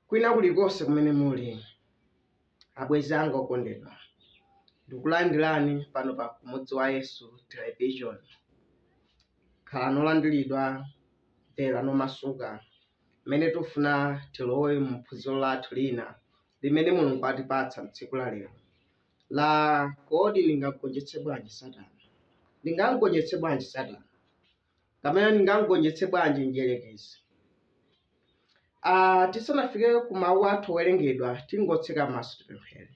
kwina kulikonse kumene muli abwenzi anga okondedwa ndikulandirani pano pa kumudzi wa yesu television khala nolandiridwa mvera nomasuka mmene tifuna tilowe mu phunziro lathu lina limene Mulungu atipatsa m'tsiku la lero la kodi ndingamgonjetse bwanji Satana? Ndingamgonjetse bwanji Satana? Kapena ndingamgonjetse bwanji mdierekezi? Ah, tisanafike ku mawu athu owerengedwa tingotseka maso tipemphere.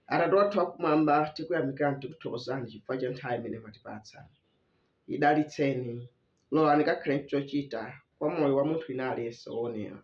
Atate wathu wakumwamba tikuyamikirani tikuthokozani chifukwa cha nthawi imene mwatipatsa. Idalitseni, lolani kakhale chochita kwa moyo wa munthu wina aliyense woonera.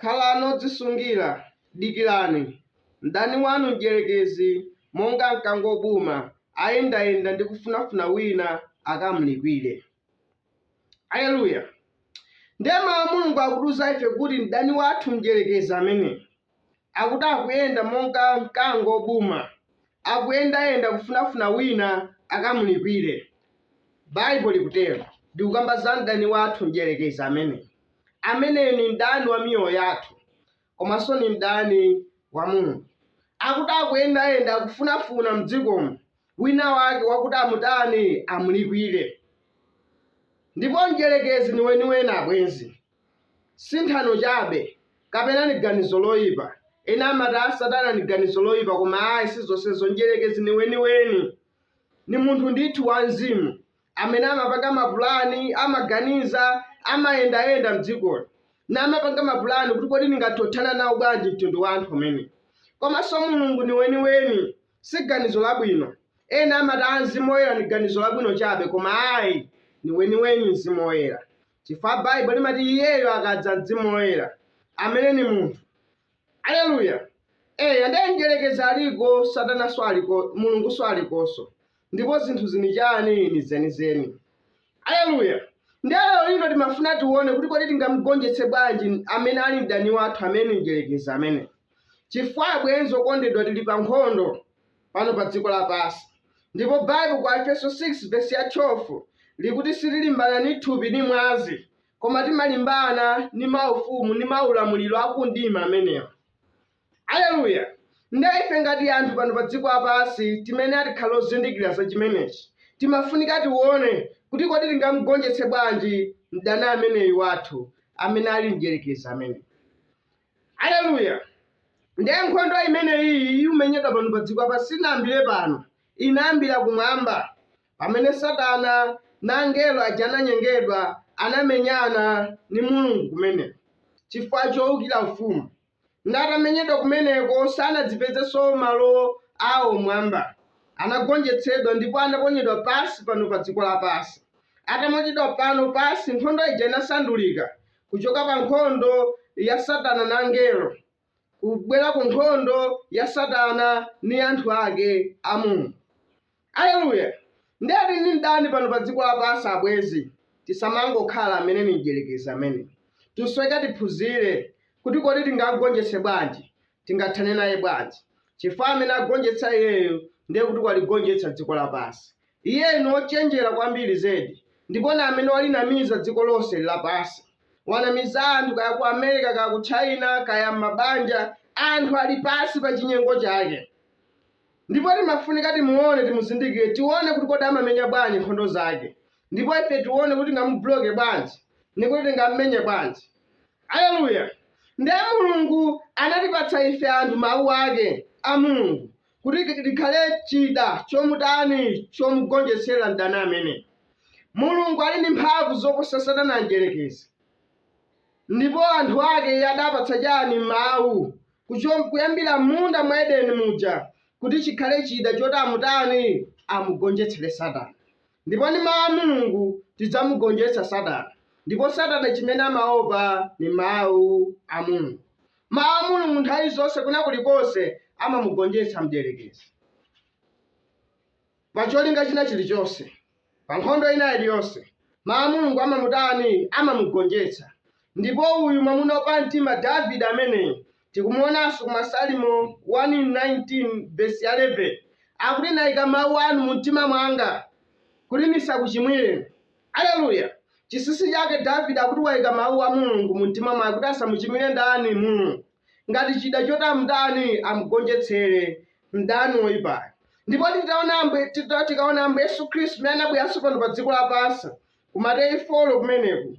Khalani odzisungira, dikirani. Mdani wanu Mdyerekezi, monga mkango wobuma, ayendayenda ndi kufunafuna wina akamlikwire. Aleluya! Ndiye Mawu a Mulungu akutiuza ife kuti mdani wathu Mdyerekezi ameneyu akuti akuyenda monga mkango wobuma, akuyendayenda kufunafuna wina akamlikwire. Baibo likutero, likukamba za mdani wathu Mdyerekezi ameneyu. ameneyu ni mdani wa miyoyo yathu komanso ni mdani wa Mulungu. Akuti akuyendayenda akufunafuna m'dzikomo wina wake wakuti amutani amulikwire. Ndipo mdyerekezi ni weniweni abwenzi, si nthano chabe kapena ni ganizo loipa. Ena amati, a Satana ni ganizo loipa, koma ayi si zonsezo. Mdyerekezi ni weniweni, ni munthu ndithu wamzimu. amene amapanga mapulani amaganiza amayendayenda mdzikoli na amapanga mapulani kuti kodi ndingathothana nawo bwanji mtundu wa anthu umene komanso mulungu ni weniweni si ganizo labwino ena amati a mzimu woyera ni ganizo labwino chabe koma ayi ni weniweni mzimu woyera chifukwa baibo limati iyeyo akadza mzimu woyera amene ni munthu Aleluya! Eya, ndiye Mdyerekezi aliko, Satananso aliko, Mulungunso alikonso, ndipo zinthu zini chani? Ni zenizeni. Aleluya! Ndiye lero lino timafuna tione kuti kodi tingamgonjetse bwanji amene ali mdani wathu amene Mdyerekezi amene. Chifukwa abwenzi okondedwa tili pa nkhondo pano pa dziko lapansi, ndipo Baibo kwa Aefeso 6 vesi ya 12 likuti sitilimbana ni thupi ni mwazi, Koma timalimbana ni maufumu ni maulamuliro a ku mdima amenewa. Aleluya! Ndiye ife ngati anthu pano pa dziko lapansi timene atikhala ozindikira za chimenechi, timafunika tiwone kuti kodi tingamgonjetse bwanji mdani ameneyu wathu, amene ali mdierekezi ameneyu. Aleluya! Ndiye nkhondo imeneyiyi iumenyedwa pano pa dziko lapansi sinayambire pano, inayambira kumwamba. Pamene Satana na angelo aja ananyengedwa, anamenyana ni Mulungu kumeneko, cifukwa coukila Ufumu. Ndiye atamenyedwa kumeneko, sanadzapezenso malo awo m'mwamba. Anagonjetsedwa ndipo anaponyedwa pansi pano pa dziko lapansi. Ataponyedwa pano pansi, nkhondo ija inasandulika kucoka pa nkhondo ya Satana na angelo. kubwela ku nkhondo ya Satana ni anthu ake a Mulungu. Aleluya! Ndiye tili ni mdani pano pa dziko lapansi abwenzi. Tisamangokhala amene ni Mdyelekezi ameneyi. Tikusoweka tiphunzile kuti kodi tingam'gonjetse bwanji, tingathane naye bwanji. Cifukwa amene agonjetsa iyeyo, ndiye kuti waligonjetsa dziko lapansi. Iye ni wocenjela kwambili zedi, ndipo ni amene walinamiza dziko lonse lapansi. Wanamiza anthu kaya ku America, kaya ku China, kaya m'mabanja. Anthu ali pansi pa cinyengo cake. Ndipo timafunika timuone, timuzindikile, tione kuti kodi amamenya bwanji nkhondo zake. Ndipo ife tione kuti tingamubuloke bwanji, ndi kuti tingam'menye bwanji. Aleluya! Ndiye Mulungu anatipatsa ife anthu Mawu ake a Mulungu, kuti ki- chikhale chida chomutani chomugonjetsera mdani ameneyi mulungu ali ndi mphamvu zoposa satana mdyerekezi ndipo anthu ake iye adapatsa chani mawu kucho- kuyambira m'munda mwa edeni muja kuti chikhale chida choti amutani amugonjetsere satana ndipo ndi mawu a mulungu tidzamugonjetsa satana ndipo satana chimene amaopa ni mawu a mulungu Mawu a Mulungu nthawi zonse kwina kulikonse amamugonjetsa mdierekezi pa cholinga china chilichonse, pa nkhondo ina iliyonse. Mawu a Mulungu amamutani? Amamugonjetsa. Ndipo uyu mwamuna wapamtima Davide ameneyi tikumuonanso ku Masalimo 119 vesi ya 11 akuti, Ndaika mawu anu mu mtima mwanga, kuti ndisakuchimwireni. Aleluya! Chinsinsi chake Davide akuti waika mau a Mulungu mumtima mwake kuti asamuchimwire ndani? Mulungu. Ngati chida choti amutani amgonjetsere mdani woipayo. Ndipo titaona Ambuye tita, tikaona Ambuye Yesu Khristu mmene anabweranso pano pa dziko lapansi ku Mateyu folo kumeneku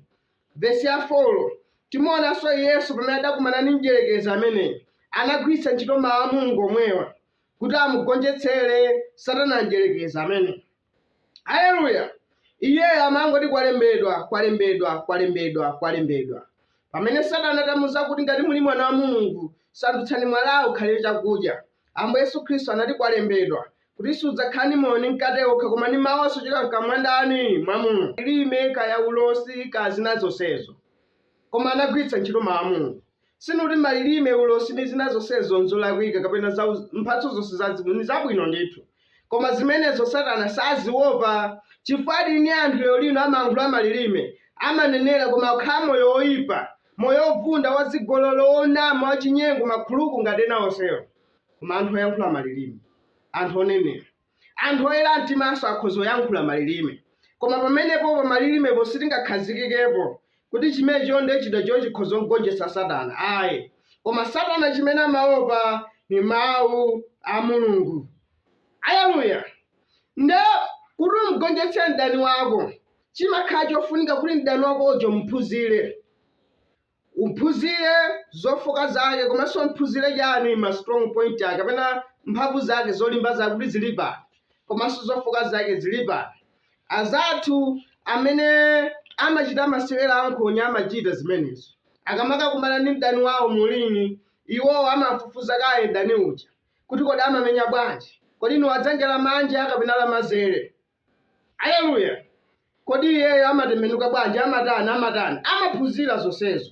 vesi ya folo timuonanso Yesu pamene adakumana ndi mdierekezi ameneyi anagwiritsa ntchito mawu a Mulungu omwewa kuti amugonjetsere Satana mdierekezi ameneyi. Aleluya! Iye amangoti kwalembedwa, kwalembedwa, kwalembedwa, kwalembedwa. Pamene Satana atamuuza kuti ngati muli mwana wa Mulungu, sandutsani mwalawu ukhale chakudya, Ambuye Yesu Khristu anati kwalembedwa, kuti sudzakhala ndi moyo ndi mkate okha koma ndi mau onse ochokera mkamwa mwa ndani? Mwa Mulungu. Lilime, kaya ulosi, kaya zina zonsezo. Koma anagwiritsa ntchito mau a Mulungu. Sindiuti malilime, ulosi ndi zina zonsezo nzolakwika kapena za mphatso zonse za mzimu ndi zabwino ndithu. Koma zimenezo Satana saziopa chifukwa tili ni anthu lero lino amayankhula malilime, amanenera koma akukhala moyo woipa, moyo wovunda, wazigololo, wonama, wachinyengo, makhuluku ngati ena onsewo. Koma anthu oyankhula malilime, anthu onenera. Anthu oyera mtimanso akhoza oyankhula malilime. Koma pamenepo, pa malilimepo sitingakhazikikepo kuti chimenecho nde chida choti chikhoza kumgonjetsa Satana. Ayi. Koma Satana chimene amaopa ni Mau a Mulungu. Aleluya! Nde, kuti umgonjetse mdani wako, chimakhala chofunika kuti mdani wako uja umuphunzire. Umphunzire zofooka zake komanso umphunzire chani ma strong point ake kapena mphamvu zake zolimba zake kuti zili pati komanso zofooka zake zili pati. Anzathu amene amachita masewera a nkhonya amachita zimenezo. Akamakakumana ni mdani wawo mu ring, iwowo amam'fufuza kaye mdani uja kuti kodi amamenya bwanji, kodi ni wadzanja lamanja kapena lamanzere. Aleluya! Kodi iyeyo amatembenuka bwanji, amatani, amatani? Amaphunzira zonsezo.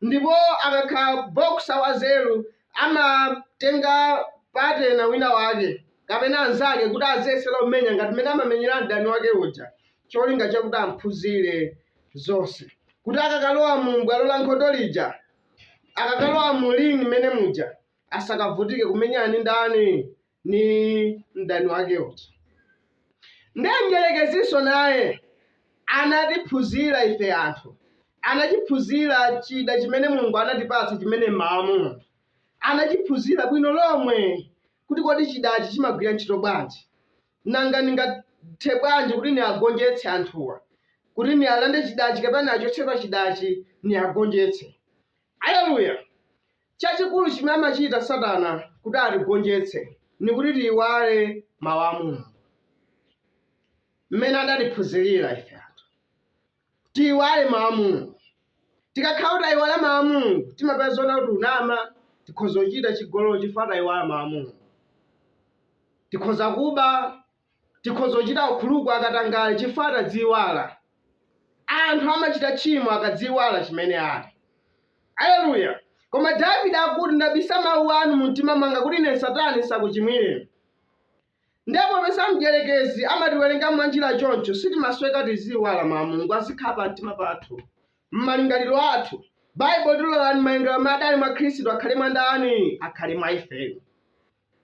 Ndipo akakhala boxer wanzeru, amatenga partner winawake kapena anzake kuti aziyesera kumenya ngati mmene amamenyera mdani wake uja, cholinga chakuti amphunzire zonse, kuti akakalowa mu bwalo la nkhondo lija, akakalowa mu ring mmene muja, asakavutike kumenyana ndi ndani? ni mdani wake uja nde mdyerekezinso naye anatiphunzira ife anthu anachiphunzira chida chimene mulungu anatipatsa chimene ni mawu a mulungu anachiphunzira bwino lomwe kuti kodi chidachi chimagwira ntchito bwanji nanga ndingathe bwanji kuti niagonjetse anthuwa kuti nialande chidachi kapena niachotse pa chidachi niagonjetse aleluya Cacikulu cimene amacita Satana kuti atigonjetse ni kuti tiiwale Mawu a Mulungu, mmene anatiphunzilila ife anthu. Tiiwale Mawu a Mulungu. Tikakhala kuti taiwala Mawu a Mulungu, timapeza zonga kuti kunama, tikhoza kucita cigololo cifukwa taiwala Mawu a Mulungu. Tikhoza kuba Tikhoza kuchita ukhuluku wakatangale chifukwa tadziiwala. Anthu amachita tchimo akadziiwala chimene ali. Aleluya! Koma Davide akuti, Ndabisa mawu anu mumtima mwanga kuti ine ndisatani ndisakuchimwireni. Ndiye popeza mdyerekezi amatiwerenga mwanjira choncho, sitimayenereka tiziiwala Mawu a Mulungu azikhala pamtima pathu, m'malingaliro athu. Baibulo likuti, Lolani malingaliro amene adali mwa Khristu akhale mwa ndani? Akhale mwa ifeyo.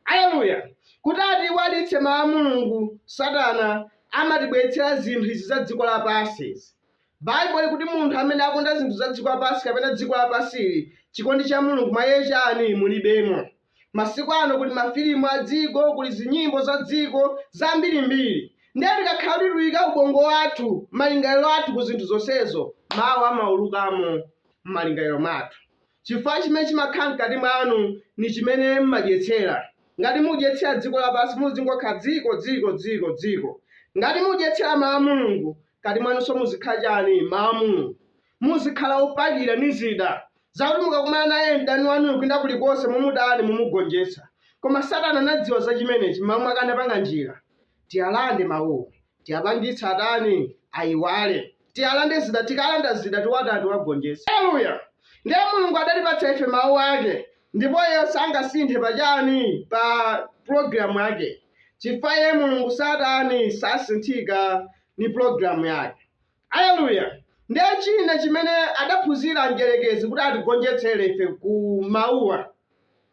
Aleluya! Kuti atiiwalitse Mawu a Mulungu, Satana amatibweretsera zinthu izi za dziko lapansi izi. Baibulo limati munthu amene akonda zinthu za dziko lapansi kapena dziko lapansi ili, chikondi cha Mulungu mwa iye chani? mulibemo. Masiku ano kuli mafilimu a dziko, kuli zinyimbo za dziko, zambiri mbiri. Ndiye tikakhala kuti tuyika ubongo wathu, malingaliro athu ku zinthu zonsezo, Mawu amaulukamo mmalingaliro mwathu. Cifukwa cimene cimakhala mkati mwanu ni cimene m'madyetsela. Ngati mudyetsela dziko lapansi muzingokhala dziko, dziko, dziko, dziko. Ngati mudyetsela mau a Mulungu, mkati mwanunso muzikhala chani? Mau a Mulungu. Muzikhala opakira ni zida zakuti mukakumana naye mdani wanuyo kwina kulikonse mumutani? Mumugonjetsa. Koma Satana anadziwa za cimeneci m'malo mwake anapanga njila tialande mauwo. tiapangitse atani aiwale tiyalande zida tikalanda zida tiwatani tiwagonjetse aleluya ndiye mulungu adatipatsa ife mawu ake ndipo iye sangasinthe pachani pa pulogalamu yake chifukwa iye mulungu satani sasinthika ni pulogalamu yake aleluya ndiye china chimene adaphunzira mdyerekezi kuti atigonjetsere ife ku mawuwa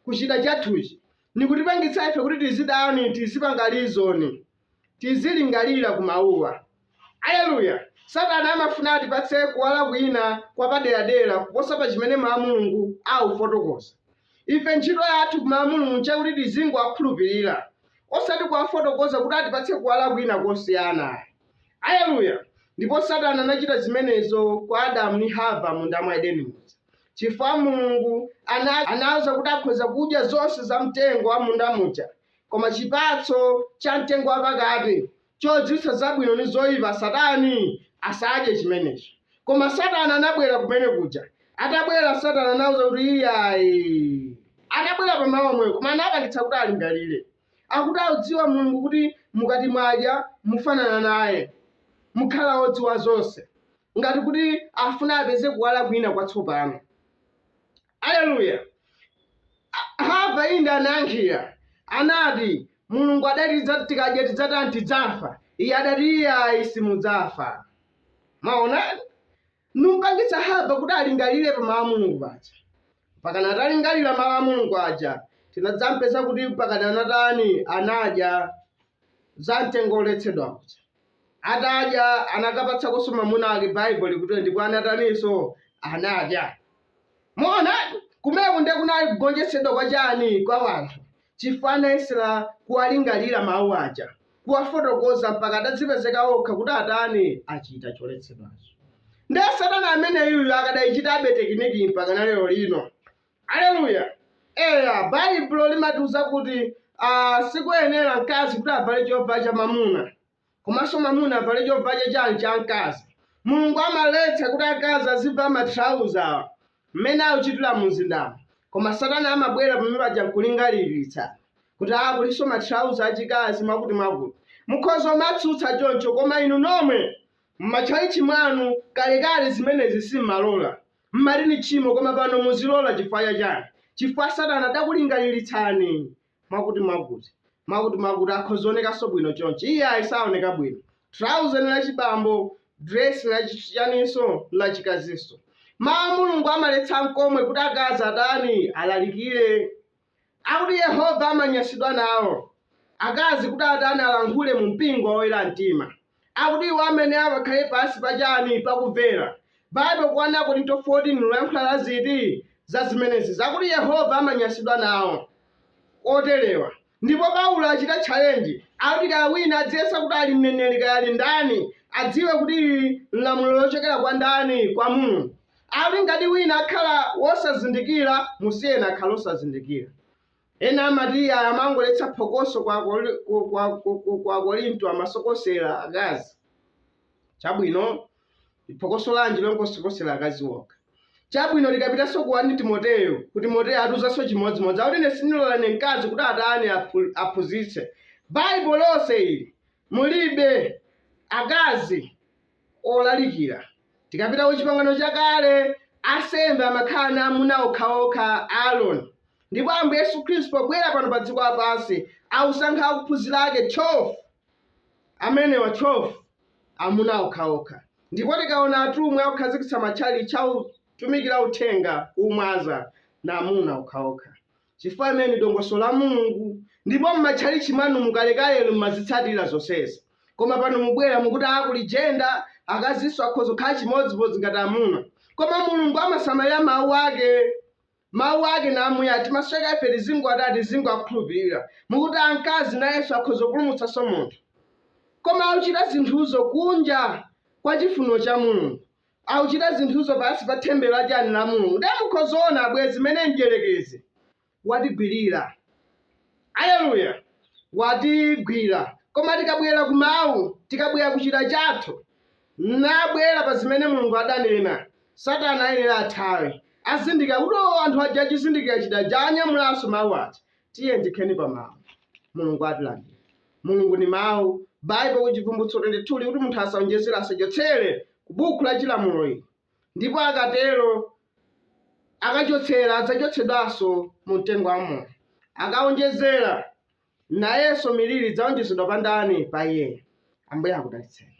kuchita chathuchi nikutipangitsa ife kuti tizidani tizipanga lizoni tizilingalira ku Mawuwa. Aleluya! Satana amafuna atipatse kuwala kwina kwapaderadera kuposa pa chimene Mawu a Mulungu akufotokoza. Ife ntchito yathu ku Mawu a Mulungu nchakuti tizingowakhulupirira, osati kuwafotokoza kuti atipatse kuwala kwina kosiyana ayi. Aleluya! Ndipo Satana anachita zimenezo kwa Adamu ndi Hava m'munda mwa Edeni muja, chifukwa Mulungu anawauza kuti akhoza kudya zonse za mtengo wa m'munda muja, Koma chipatso cha mtengo wapakati, chodziwitsa zabwino ndi zoipa, satani asadye chimenecho. Koma satana anabwera kumene kuja. Atabwera, satana anawauza kuti, Iyayi. Atabwera pa mawu omwewo, koma anapangitsa kuti alingalire. Akuti audziwa Mulungu kuti mukati mwadya, mufanana naye. Mukhala wodziwa zonse. Ngati kuti afuna apeze kuwala kwina kwatsopano. Aleluya! A- Hava inde anayankhira, anati Mulungu adati tidza- tikadya tidzatani tidzafa. Iye adati iyayi simudzafa. Mwaona, numpangitsa Hava kuti alingalire pa mawu a Mulungu aja. Pakana atalingalira mawu a Mulungu aja, tinadzampeza kuti pakana anatani anadya za mtengo woletsedwa uja. Atadya, anakapatsakonso mamuna ake Bible likuti ndipo anataninso? Anadya. Mwaona? Kumeko nde kunali kugonjetsedwa kwa chani? Kwa wanthu. Chifukwa anayesela kuwalingalira mawu aja, kuwafotokoza mpaka adadzipezeka okha kuti atani? Achita choletsedwacho. Nde satana ameneyuyo akadaichitabe tekinikiyi mpakana lero lino. Aleluya! Eya, Baibulo limatiuza kuti ah, sikoyenera mkazi kuti avale chovala cha mwamuna komanso mwamuna avale chovala cha chani cha mkazi. Mulungu amaletsa kuti akazi azivala matrauza awa mmene akuchitira mu mzindamo, koma Satana amabwera pamene paja nkulingaliritsa kuti ah, kulinso matrauza achikazi mwakuti mwakuti. Mukhoza kumatsutsa choncho, koma inu nomwe m'matchalitchi mwanu kalekale zimenezi simmalola. Mmati ni tchimo koma pano muzilola chifukwa chani? Chifukwa satana adakulingalilitsani mwakuti mwakuti. Mwakuti mwakuti akhoza kuonekanso bwino chonchi. Iyayi saoneka bwino. Trouser ni lachibambo, dress la chi chaninso nlachikazinso. Mawu a Mulungu amaletsa nkomwe kuti akazi atani? Alalikire. Akuti Yehova amanyansidwa nawo akazi kuti atani alankhule mu mpingo wa oyera mtima. Akuti iwo amayenera akakhale pansi pa chani? Pa kumvera. Bible ku 1 Akorinto 14 likuyankhula za ziti? Za zimenezi zakuti Yehova amanyansidwa nawo oterewa. Ndipo Paulo achita challenge akuti kaya wina adziyesa kuti ali mneneri kaya ali ndani adziwe kuti ili nlamulo lochokera kwa ndani? Kwa Mulungu. Akuti ngati wina akhala wosazindikira musiyeni akhale osazindikira. Ena amati iyayi amangoletsa phokoso ku Akori- ku- ku- ku- ku- ku Akorinto amasokosera akazi. Chabwino, ndi phokoso lanji longosokosera akazi okha? Chabwino, tikapitanso ku 1 Timoteyo, ku Timoteyo atiuzanso chimodzimodzi. Akuti ine sindilola ine mkazi kuti atani aphu- aphunzitse. Baibulo lonse ili mulibe akazi olalikira. Tikapita ku Chipangano Chakale, ansembe amakhala ndi amuna okhaokha Aroni. Ndipo Ambuye Yesu Khristu pobwera pano pa dziko lapansi, akusankha akuphunzira ake 12. Amenewa 12 amuna okhaokha. Ndipo tikaona atumwi akukhazikitsa matchalitchi autumikira uthenga kumwaza ndi amuna okhaokha. chifukwa limene ndi dongosolo la mulungu ndipo mmatchalitchi mwanu mukalekalelo mmazitsatira zonsezi koma pano mubwera mukuti aa kuli jenda akazinso akhoza kukhala chimodzimodzi ngati amuna koma mulungu amasamalira mawu ake mawu ake ngamuyaya timasweka ife tizingo atani tizingowakhulupirira mukuti amkazi nayenso akhoza kupulumutsanso munthu koma akuchita zinthuzo kunja kwa chifuniro cha mulungu akuchita zinthuzo pansi pa temberero la chani la Mulungu ndiye mukhoza kuona abwenzi mmene mdyerekezi watigwirira aleluya watigwira koma tikabwera ku mawu tikabwera ku chida chathu nabwera pa zimene Mulungu adanena satana ayenera athawe azindikira kuti o anthu aja achizindikira chida chija anyamulanso mawu aja tiye ndikheni pa mawu mulungu atilandira mulungu ni mawu baibo ku chivumbulutso 22 ikuti munthu asaonjezere asachotsere ku buku la chilamulo ili ndipo akatero akachotsera adzachotsedwanso mu mtengo wa moyo akaonjezera nayenso miliri idzaonjezedwa pa ndani pa iyeyo ambuye akudalitseni